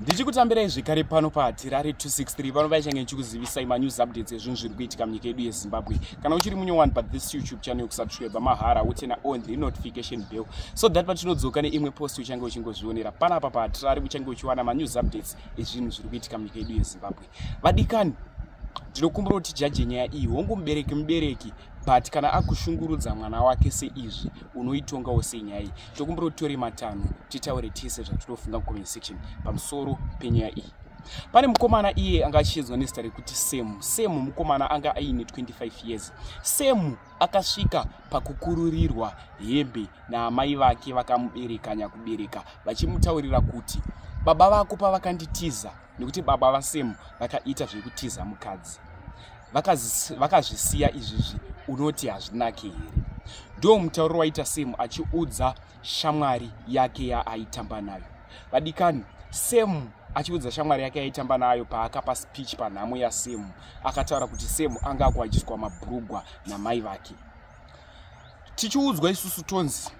ndichikutambirai zvekare pano pahatirare 263 pano vaichange ndichikuzivisai manews updates ezvinhu zviri kuitika munyika yedu yezimbabwe kana uchiri munyowani pa this youtube channel yokusubscribe mahara utena on the notification bell so that patinodzoka neimwe post uchange uchingozvionera pana apa pahatirare uchange uchiwana manews updates ezvinhu zviri kuitika munyika yedu yezimbabwe vadikani ndinokumbira kuti jaje nyaya iyi hongu mubereki mubereki but kana akushungurudza mwana wake seizvi unoitongawo sei nyaya iyi tokumbira kuti tore matanho titaure tese zvatinofunga mucomment section pamusoro penyaya iyi pane mukomana iye anga achiedzwa nezita rekuti semu semu mukomana anga aine 25 years semu akasvika pakukururirwa hembe naamai vake vakamubereka nyakubereka vachimutaurira kuti baba vako pavakanditiza nekuti baba vasemu vakaita zvekutiza mukadzi vakazvisiya izvizvi unoti hazvinake here ndo mutauro waita semu achiudza shamwari yake yaaitamba nayo vadikani semu achiudza shamwari yake yaitamba nayo paakapa speech panhamo yasemu akataura kuti semu anga akuwajiswa mabrugwa namai vake tichiudzwa isusu tonzi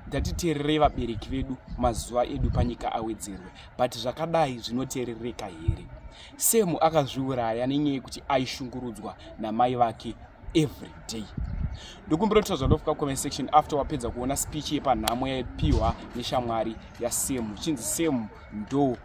ngatiteererei vabereki vedu mazuva edu panyika awedzerwe but zvakadai zvinoteerereka here semu akazviuraya nenyaya yekuti aishungurudzwa namai vake every day ndokumbira kuti zvandofika comment section after wapedza kuona speech yepanhamo yaipiwa neshamwari yasemu chinzi semu ndo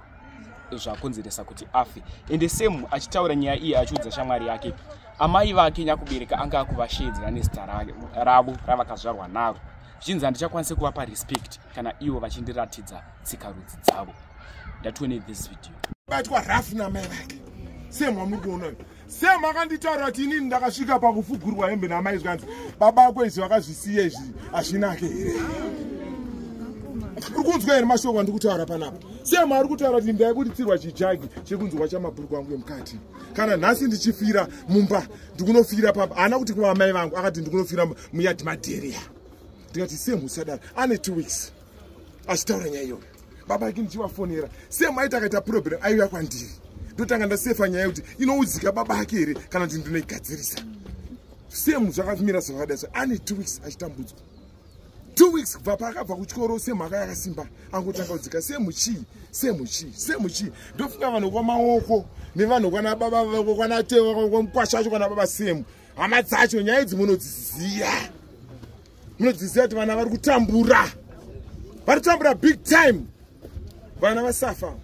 zvakonzeresa kuti afe ende same achitaura nyaya iyi achiudza shamwari yake amai vake nyakubereka anga akuvasheedzera nezita ravo ravakazvarwa naro zvichinzi handichakwanise kuvapa respect kana ivo vachindiratidza tsika rudzi dzavo ndatione this video batwa rafu namai vake same wamuri kuona semakanditaura kuti inini ndakasvika pakufugurwa hembe namai zvikanzi baba ako izvi vakazvisiya izvi hazvinake here uri kunzwa here mashoko andiri kutaura panapa sema ari kutaura kuti ndaibuditsirwa chijagi chekunzwa chamabhuruku angu emukati kana nhasi ndichifira mumba ndikunofira papa haana kuti kuvamai vangu akati ndikunofira muyadhi madheria ndikati semu sadara ane two weeks achitaura nyaya iyoyo baba ake ndichivafonera same aiti akaita problem aiuya kwandiri ndotanga ndasefa nyaya yekuti inoudzika baba ake here kana kuti ndinoigadzirisa same zvakamira zvakadai so ane two weeks achitambudzwa two weeks kubva paakabva kuchikoro semhaka yakasimba angotanga kudzika semuchii semuchii semuchii ndofunga vanhu kwamaoko nevanhu kwana baba vako kwana tewa kwamukwasha acho kwana baba semu hama dzacho nyaya idzi munodziziya munodziziva kuti vana vari kutambura vari kutambura big time vana vasafa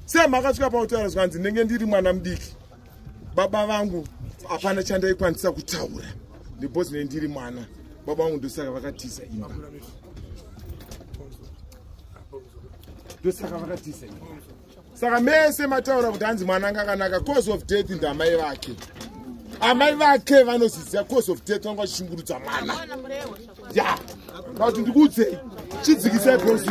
sei makasvika pautaura zvikanzi ndenge ndiri mwana mudiki baba vangu hapana chandaikwanisa kutaura ndibos ne ndiri mwana baba vangu ndosaka vakatiza imba ndosaka vakatiza imba saka mese mataura kuti hanzi mwana anga akanaka cause of death ndamai vake amai vake vanoziziva cause of death vanga vachishungurudza mwana ya vati ndikuudzei chidzikisai cause